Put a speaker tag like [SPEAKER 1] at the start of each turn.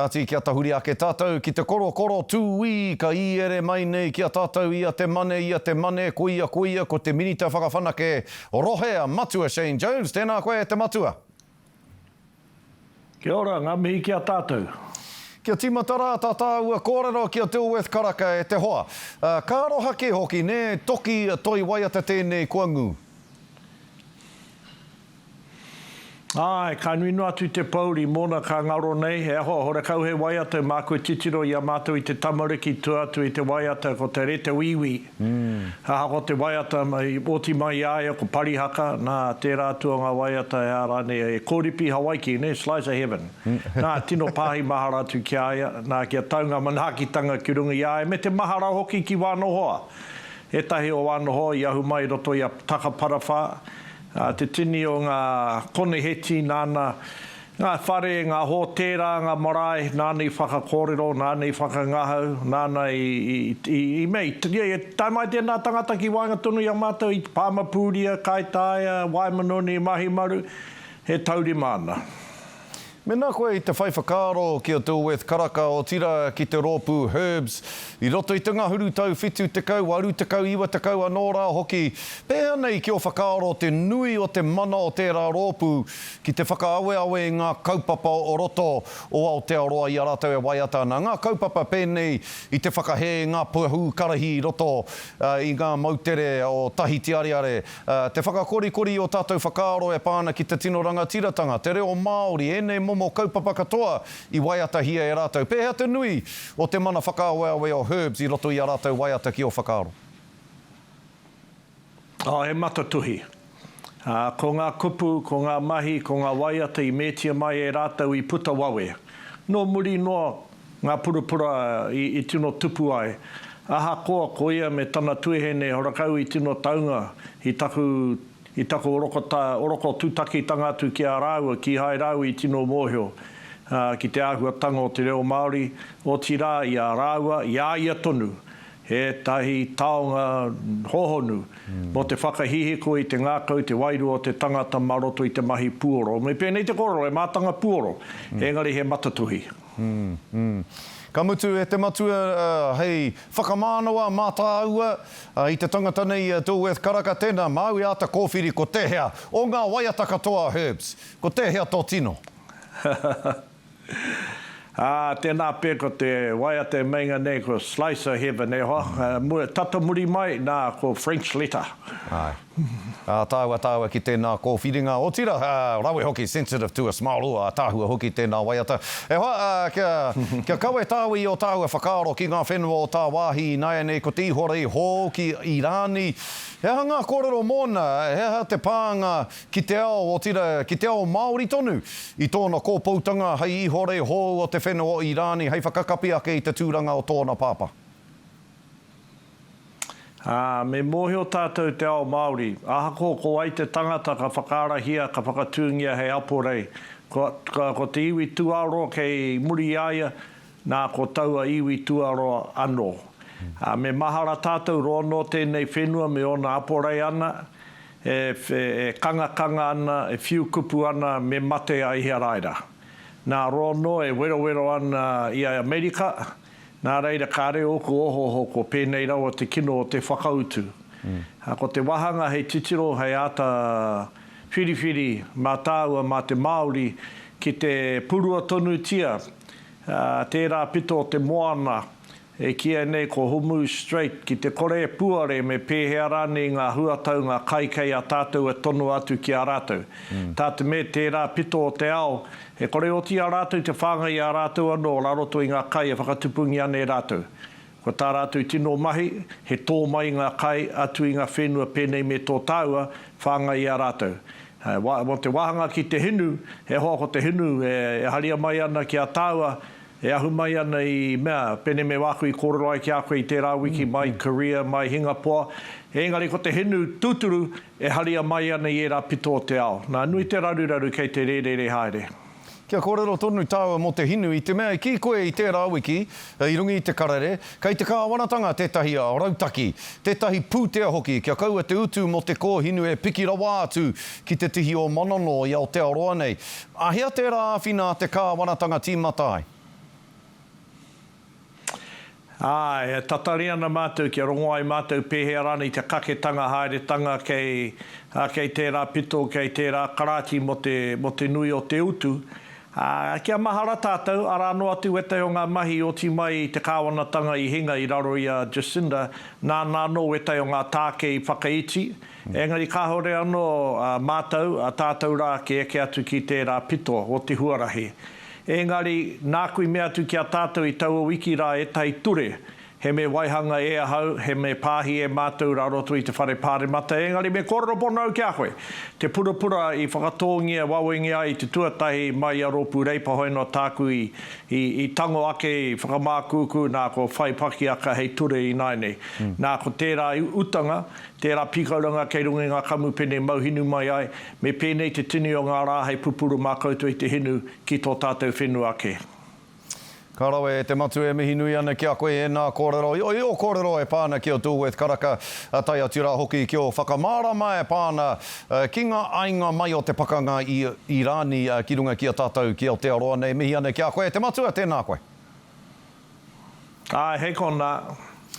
[SPEAKER 1] Kāti kia tahuri ake tātou ki te korokoro tūī ka īere mai nei ki a tātou ia te mane, ia te mane, koia, koia, ko te Minita Whakawhanake Rohe a Matua Shane Jones. Tēnā koe e te Matua.
[SPEAKER 2] Kia ora, ngā mihi ki a tātou. Kia tīmata
[SPEAKER 1] rā tā tāua kōrero ki a Dilworth Karaka e te hoa. Ka aroha kē hoki, nē, toki toi waiata tēnei kua ngū.
[SPEAKER 2] Āe, ka nui noa atu te pōuri mōna ka ngaro nei, he aho a Horekau hei waiata e mākua titiro i a mātou i te tamariki tua atu i te waiata ko te rete wīwī. Aha ko te waiata i oti mai i a ia ko Parihaka, nā, tērā atu o ngā waiata he aha rānei, he kōripi Hawaiki, nē, slice of heaven. Nā, tino pāhi mahara atu ki a ia, nā, kia tau ngā manaakitanga ki runga i a ia me te mahara hoki ki wāna hoa. Ētahi o wāna hoa i ahu mai i roto i a Takaparawhā, Ā, te tini o ngā koneheti nāna, ngā whare, ngā hōtēra, ngā marae, nāna i whakakōrero, nāna i whakangahau, nāna i, i, i, i mea, i, i, i tae mai tēnā tangata ki waenga tonu i a mātou, i Pāmapūria, Kaitaia, Waemanoni, Mahimaru, he taurima ana. Mēnā
[SPEAKER 1] koe i te whai whakaaro ki a Dilworth Karaka, otirā ki te rōpū Herbs, i roto i te ngahuru tau 70, 80, 90 anō rā hoki, pēhea nei ki ō whakaaro te nui o te mana o tērā rōpū ki te whakaaweawe i ngā kaupapa o roto o Aotearoa i a rātou e waiata ana, ngā kaupapa pēnei i te whakahē i ngā pahū karahi i roto i ngā moutere o Tahitiareare, Te whakakorikori i ō tātou whakaaro e pā ana ki te tino rangatiratanga, te reo Māori, ēnei momo kaupapa katoa i waiatahia e rātou. Pēhea te nui o te mana whakaaweawe o Herbs i roto i ā rātou waiata ki ō whakaaro?
[SPEAKER 2] Oh, he matatuhi. Ko ngā kupu, ko ngā mahi, ko ngā waiata i metia mai e rātou i puta wawe. Nō muri noa, Ngā purapura i tino tupu ai. Ahakoa ko ia me tana tuehene horakau i tino taunga i taku i taku oroko tutakitanga atu ki a rāua, kīhai rāua i tino mōhio ki te āhuatanga o te reo Māori, otirā i a rāua, i a ia tonu, ētahi taonga hōhonu mō te whakahihiko i te ngākau, te wairua o te tangata mā roto i te mahi puoro. Me pēnei te kōrero, he mātanga puoro, engari he matatohi. Umm, umm.
[SPEAKER 1] Ka mutu e te Matua, hei whakamānawa mā tāua, i te tangata nei i a Dilworth Karaka, tēnā māu e āta kōwhiri ko tēhea o ngā waiata katoa, Herbs, ko tēhea tō tino?
[SPEAKER 2] Ā, tēnā pea ko te waiata e meinga nei ko Slice O' Heaven, e hoa, mua, tata muri mai, nā, ko French Letter. Āe.
[SPEAKER 1] Ātaahua tāua ki tēnā kōwhiringa, otirā, ā, rawe hoki, sensitive to a smile, oh, ātaahua hoki tēnā waiata. E hoa, ā, kia, kia kawe tāua i ōtāua whakaaro ki ngā whenua o tāwāhi ināianei ko te ihorei hou ki Irāni, he aha ngā kōrero mōna, he aha te pānga ki te ao, otirā, ki te ao Māori tonu i tōna kōpoutanga hei ihorei hou o te whenua o Irāni hei whakakapi ake i te tūranga o tōna pāpā.
[SPEAKER 2] Ā, me mōhio tātou te ao Māori, ahakoa ko wai te tangata ka whakaarahia, ka whakatūngia hei aporei, ko, ko, ko te iwi tūāroa kei muri i a ia, nā, ko taua iwi tūāroa anō. Ā, me mahara tātou roa nō tēnei whenua me ōna aporei ana, e, e kangakanga ana, e whiu kupu ana, me mate a Iharaira. Nā, roa nō e werowero ana i a Amerika, Nā reira kāre ōku ohoho ko pēnei rawa te kino o te whakautu. Ko te wāhanga hei titiro, hei āta whiriwhiri mā tāua, mā te Māori, ki te purua tonutia tērā pito o te moana e kīia nei ko Hormuz Strait ki te kore e puare me pēhea rānei ngā huatau, ngā kai kei a tātou e tonoa atu ki a rātou. Tā te mea tērā pito o te ao, E kore e oti i a rātou te whāngai i a rātou anō rā roto i ngā kai e whakatupungia ana e rātou. Ko tā rātou tino mahi, he tō mai i ngā kai, atu i ngā whenua pēnei me tō tāua, whāngai i a rātou. Mō te wāhanga ki te hinu, e hoa ko te hinu e haria mai ana ki a tāua, e ahu mai ana i mea, pēnei me wāku i kōrero ai ki a koe i tērā wiki, mai Korea, mai Hingapoa, ēngari ko te hinu tūturu, E haria mai ana i ērā pito o te ao. Nā, nui te raruraru kei te rērere haere. Kia kōrero
[SPEAKER 1] tonu tāua mō te hinu, i te mea e kī koe i tērā wiki, i runga i te karere, kei te kāwanatanga tētahi ao rautaki, tētahi pūtea hoki kia kaua te utu mō te kōhinu e piki rawa atu ki te tihi o Manonō i Aotearoa nei. A hea tērā āwhina a te kāwanatanga tīmata ai?
[SPEAKER 2] Ā, e tatari ana mātou kia rongo ai mātou pēhea rānei te kaketanga haeretanga kei, ā, kei tērā pito, kei tērā karāti mō te, mō te nui o te utu, ā, kia mahara tātou, arā noa atu ētahi o ngā mahi i oti mai i te kāwanatanga i hinga i raro i a Jacinda, nāna anō ētahi o ngā tāke i whakaiti, engari kāore anō, ā, mātou, ā, tātou rā ki eke atu ki tērā pito o te huarahi. Engari, nāku i mea atu ki a tātou i taua wiki rā ētahi ture, he mea waihanga e ahau, he mea pāhi e mātou rā roto i te Whare Pāremata, engari me kōrero pono au ki a koe, te purapura i whakatōngia wawengia ai te tuatahi mai i a Rōpū Reipa hoea noa tāku i, i, i tango ake, i whakamākūkū, nā, kua whai pakiaka hei ture ināianei. Nā, ko tērā utanga, tērā pīkauranga kei runga i ngā kamupene mau hinu mai ai, Me pēnei te tini o ngā rā hei pupuru mā koutou i te hinu ki tō tātou whenua ake. Ka
[SPEAKER 1] rawe e te matū e mihi nui ana ki a koe ēnā kōrero i ō kōrero e pā ana ki a Dulworth Karaka tae atu rā hoki ki ō whakamārama e pā ana ki ngā ainga mai o te pakanga i Irāni ki runga ki a tātou ki Aotearoa nei mihi ana ki a koe te matua tēnā
[SPEAKER 2] koe. Āe
[SPEAKER 1] hei konā.